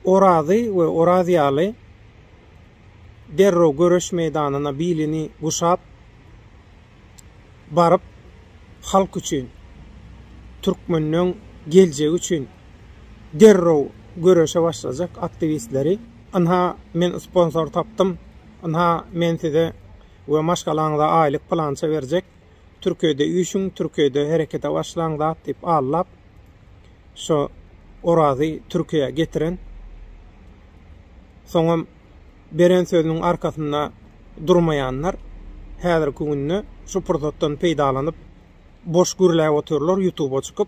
Orazy we Oraz ýaly derrew göreş meýdanyna bilini guşap baryp, halk üçin, türkmeniň geljegi üçin derrew göreşe başlajak aktiwistleri, Ynha, men sponsor tapdym, ynha, men size we maşgalaňyza aýlyk pylança berjek, Türkiýede üýşüň, Türkiýede herekete başlaň zat diýip allap, şo Orazy Türkiýä getiren, soňam beren sözüniň arkasynda durmaýanlar häzirki günde şu pursatdan peýdalanyp boş gürläp otyrlar ýutuba çykyp.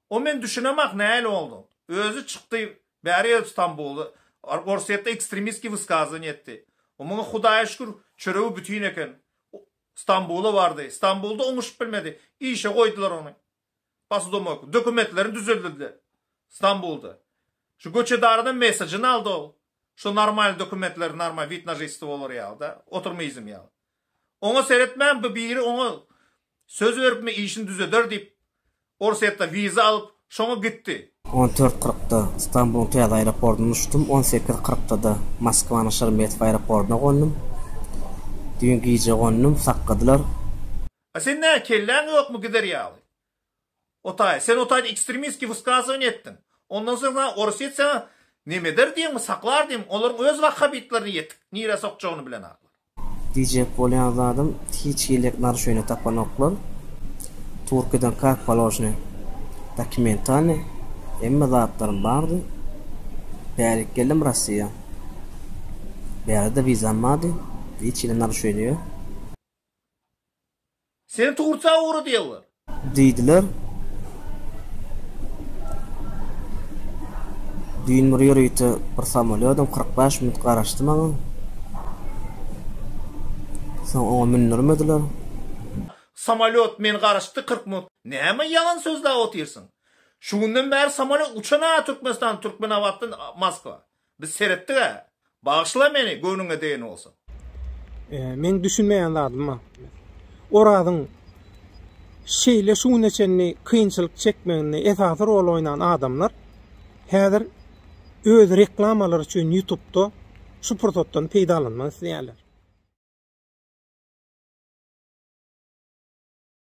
O men düşünemak nail oldu. Özü çykdy bäri Stambuly Orsýetde ekstremistki wysgazony etdi. O muňa Hudaýa şükür çöregi bütin eken. Stambula bardy. Stambulda oňuşyp bilmedi. Işe goýdular ony. Posudomoýka. Dokumentlerini düzedildi. Stambulda. Şu göçedaradan mesajyny aldy ol. Şu normalny dokumentleri normal wid na žitstvo bolar ýaly-da. Oturma izim ýaly. Oňa seretmän bu biri oňa söz beripmi işini düzeder diýip. Orsýetde wiza alyp, şoňa gitdi. On dört kyrkda Stambulyň täze aeroportyndan uçdum. On sekiz kyrkda-da Moskwanyň Şeremetýewo aeroportyna gondum. Düýn gije gondum, sakgadylar. A sen nä, kelläň ýokmy gider ýaly? O taý, sen o taýda ekstremistskiý wysgazowaniýa etdiň. Ondan soň saňa Orsýet saňa nemeder diýenmi, saklar diýenmi, olaryň öz wahhabitlerine ýetik, nirä sokjagyny bilen aklar. Diýjek bolýan zadym hiç hili narusheniýe tapanoklar. Turkiýeden kak položny dokumentalny hemme zatlarym bardy. Bärik geldim Rossiýa. Bärde wizam bardy. Hiç hili narusheniýe. Seni Turkiýa ugradýarlar. Diýdiler. Düýn bir ýörite bir samolýodam kyrk bäş minut garaşdy maňa. Soň oňa mündirmediler. Samolýot men garaşdy kyrk minut. Näme ýalan sözläp otyrsyň? Şu günden bäri samolýot uçan-a Türkmenistanda, Türkmenabatdan Moskwa. Biz seretdiga. Bagyşla meni göwnüňe degen bolsa. Meň düşünmeýän zadym Orazyň şeýle şu güne çenli kynçylyk çekmeginde esasy rol oýnan adamlar häzir öz reklamalary üçin ýutubda şu pursatdan peýdalanmak isleýärler.